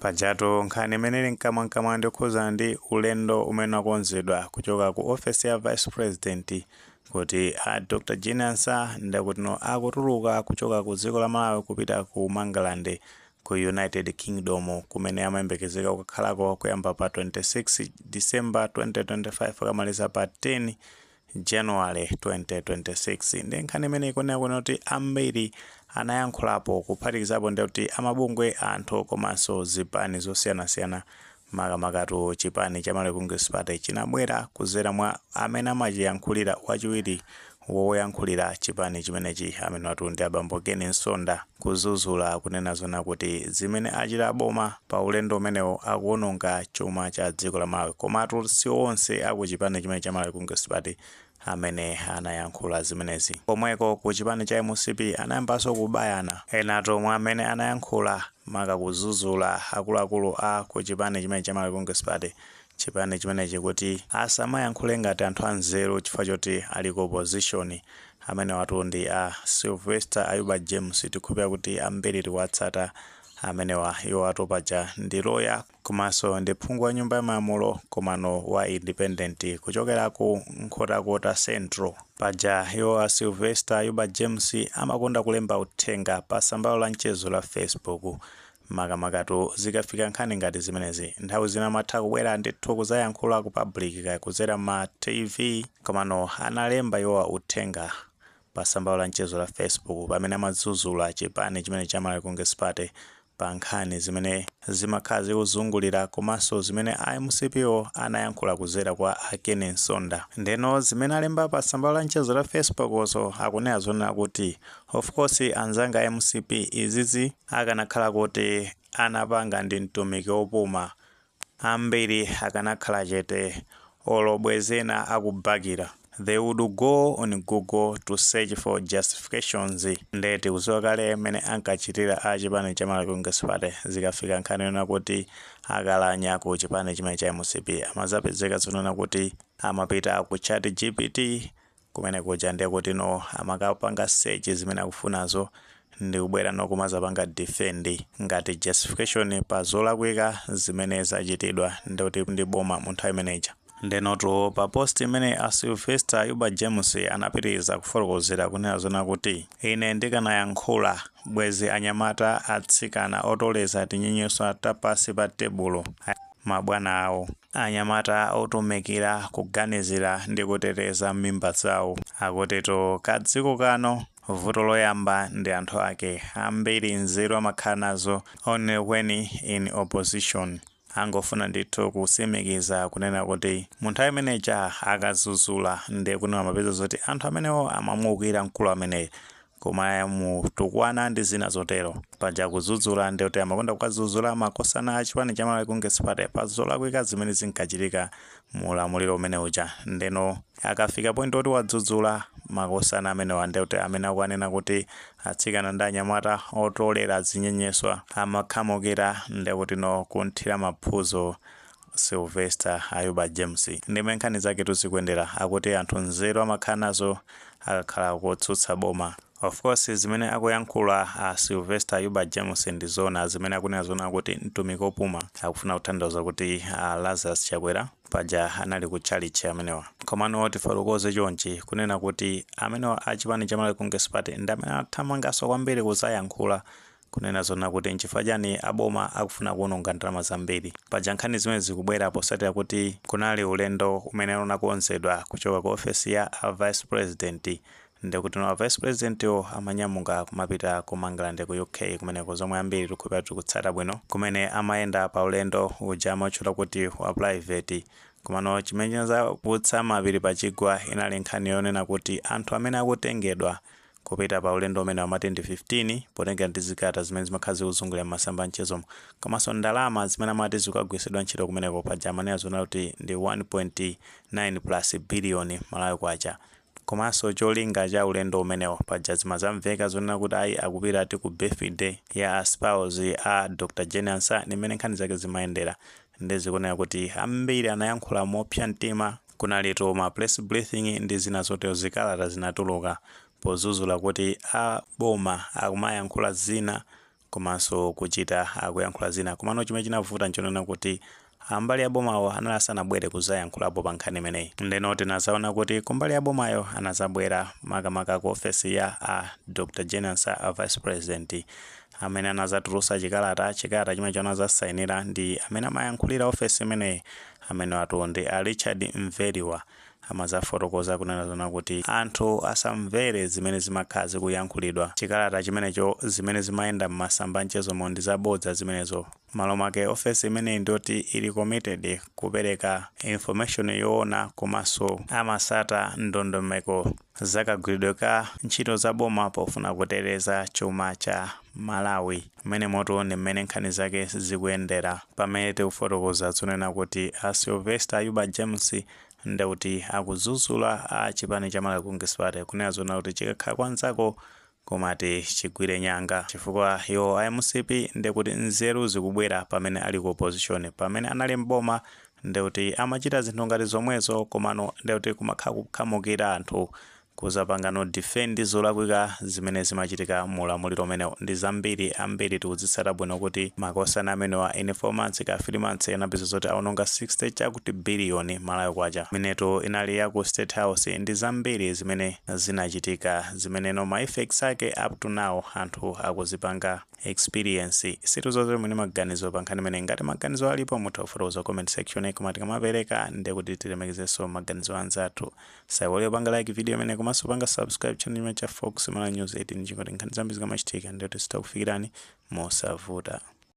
Pajatu nkhani imene ili mkamwamkamwa ndi yokhudzana ndi ulendo umene wakonzedwa kuchoka ku ofesi ya Vice President kuti a Dr Jane Ansah ndakutino akutuluka kuchoka ku dziko la Malawi kupita ku Mangalande ku United Kingdom kumene amayembekezeka kukakhalako kuyamba pa 26 December 2025 akamaliza pa 10 January 2026 ndiye nkhani imene ikunena kuno kuti ambiri anayankhulapo kuphatikizapo ndi kuti amabungwe anthu komanso zipani zosiyanasiyana makamakatu chipani cha Malawi Congress Party chinabwera kuzera mwa amene amachiyankhulira wachiwiri woyankhulira chipani chimenechi amenewatu ndi abambo Ken Msonda kudzudzula kunena zonena kuti zimene achita aboma pa ulendo umenewo akuononga chuma cha dziko la Malawi komatu si onse aku chipani chimene cha Malawi Congress Party amene anayankhula zimenezi komweko ku chipani cha mcp anayambanso kubayana enatu mwa amene anayankhula maka kudzudzula akuluakulu a ku chipani chimene cha Malawi Congress Party chipani chimenechi kuti asamayankhule ngati anthu anzeru chifukwa choti ali ku opposition. Amenewatu ndi a Sylvester Ayuba James, tikhulupirira kuti ambiri tiwatsata amenewa. Iwowatu paja ndi lawyer komanso ndi phungu wa Nyumba ya Malamulo komano wa independent kuchokera ku Nkhotakota Central. Paja iwo a Sylvester Ayuba James amakonda kulemba uthenga pa tsamba lawo la mchezo la Facebook. Makamakatu zikafika nkhani ngati zimenezi nthawi zina amatha kubwera ndithu kudzayankhula ku public kudzera mma TV komano analemba iwowa uthenga pa tsamba lawo la mchezo la Facebook pamene amadzudzula chipani chimene cha Malawi Congress Party pa nkhani zimene zimakhala zikuzungulira komanso zimene a mcp wo anayankhula kudzera kwa a Ken Msonda ndeno zimene alemba pa tsamba lawo la mchezo la Facebook so akunena zonena kuti of course anzanga a mcp izizi Akanakhala kuti anapanga ndi mtumiki opuma, ambiri akanakhala chete olo bwezi ena akubakira, they would go on google to search for justifications, nde tikuziwa kale mene ankachitira a chipani cha Malawi Congress Party zikafika nkhani yonena kuti akalakwa ku chipani chimene cha mcp amadzapezeka zonena kuti amapita ku chat gpt kumene kuja ndiye kuti no amakapanga search zimene akufunazo ndikubwera no kumadzapanga defend ngati justification pa zolakwika zimene zachitidwa ndi kuti ndi boma mu nthawi imeneja ndenotu pa post imene a Sylvester Ayuba James anapitiriza kufotokozera kunena zonena kuti ine ndikanayankhula bwezi anyamata atsikana otoledza tinyenyeswa ta pansi pa tebulo mabwana awo. Anyamata otumikira kuganizira ndi kuteteza mimba zawo. Akutitu ka dziko kano vuto loyamba ndi anthu ake. Ambiri nzeru amakhala nazo only when in opposition. Angofuna ndithu kusimikiza kunena kuti mu nthawi imene ija akazuzula ndiye kuti amapeza zoti anthu amenewo amamuwukira mkulu ameneyo. komanso kutukwana ndi zina zotero paja kudzudzula ndi kuti amakonda kuwadzudzula makosana a chipani cha Malawi Congress Party pa zolakwika zimene zinkachitika mu ulamuliro umene uja ndeno akafika point oti wadzudzula makosana amenewa ndi kuti amene akuwanena kuti atsikana ndi anyamata otolera zinyenyeswa amakhamukira ndi kuti no kunthira maphuzo Sylvester Ayuba James ndi mmene nkhani zaketu zikuyendera akuti anthu nzeru amakhala nazo akakhala kotsutsa boma. Of course zimene akuyankhula a Sylvester Ayuba James ndi zoona, zimene akunena zoona kuti mtumiki opuma akufuna kutanthauza kuti a Lazarus Chakwera paja anali ku tchalitchi amenewa. Komano tifotokoze chonchi, kunena kuti amenewa a chipani cha Malawi Congress Party ndi amene anathamanganso kwambiri kudzayankhula Kunena zoona kuti nchifukwa chani a boma akufuna kuononga ndalama zambiri? Paja nkhani zimenezi zikubwera posatira kuti kunali ulendo umene unakonzedwa kuchoka ku ofesi ya a Vice President ndi kuti no a Vice President wo amanyamuka kumapita ku Mangalande ku UK kumeneko zomwe ambiri tikukhulupirira tikutsata bwino kumene amayenda pa ulendo uja amautchula kuti wa private. Komano chimene chinadzautsa mapiri pa chigwa inali nkhani yonena kuti anthu amene akutengedwa Kupita pa ulendo umenewu amati ndi 15 potengera ndi zikalata zimene zimakhala zikuzungulira m'masamba a mchezomo. Komanso ndalama zimene amati zikukagwiritsidwa ntchito kumeneko, paja amanena zoona kuti ndi 1.9 plus biliyoni Malawi Kwacha. Komanso cholinga cha ulendo umenewo, paja zimadzamveka zonena kuti ayi akupita ati ku birthday ya a spouse a Dr Jane Ansah ndi mmene nkhani zake zimayendera. Nde zikuoneka kuti ambiri anayankhula mopsa mtima. Kunalitu ma press briefing ndi zina zotero zikalata zinatuluka pozuzula kuti a boma akumayankhula zina komanso kuchita akuyankhula zina komano chimene chinavuta nchonena kuti ambali ya bomawo anali asanabwere kuzayankhulapo pa nkhani imeneyi ndeno tinazaona kuti kumbali ya bomayo anazabwera makamaka ku ofesi ya a Dr Jane Ansah a vice president amene anazatulusa chikalata chikalata chimenecho anazasainira ndi amene amayankhulira ofesi imeneyi amene watu ndi a richard mveriwa amazafotokoza kunena zona kuti anthu asamvere zimene zimakhala zikuyankhulidwa chikalata chimenecho zimene zimayenda m'masamba a mchezomo ndi zabodza zimenezo Mmalo mwake office imeneyi ndiyoti ili committed kupereka information yoona komanso amasata ndondomeko zakagwiridwe ka ntchito za boma pofuna kuteteza chuma cha Malawi. Mmenemotu ndi mmene nkhani zake zikuyendera. Pamene tikufotokoza zonena kuti a Sylvester Ayuba James ndekuti akudzudzula a chipani cha Malawi Congress Party kunena zonena kuti chikakhala kwa nzako Komati chigwire nyanga chifukwa iwo a mcp ndekuti nzeru zikubwera pamene ali ku opposition pamene anali m'boma ndekuti amachita zinthu ngati zomwezo komano ndekuti kumakhala kukhamukira anthu kuzapanga no defend zolakwika zimene zimachitika mu ulamuliro umenewo ndi zambiri ambiri tikuzitsata bwino kuti makosana amenewa in 4 months kaya 3 months anapeza zoti awononga 60 chakuti billion malawi kwacha imenetu inali ya ku state house ndi zambiri zimene zinachitika zimene noma effects ake up to now anthu akuzipanga experience sitiuzeni maganizo pa nkhani imene ngati maganizo alipo mutha kufotokoza comment section koma tikamapereka ndiye kuti tilemekezenso maganizo anzathu osaiwala kupanga like video imene komanso panga subscribe channel imene cha Fox Malawi news 18 ndi cholinga choti nkhani zambiri zikamachitika ndiye kuti zizitha kukufikirani mosavuta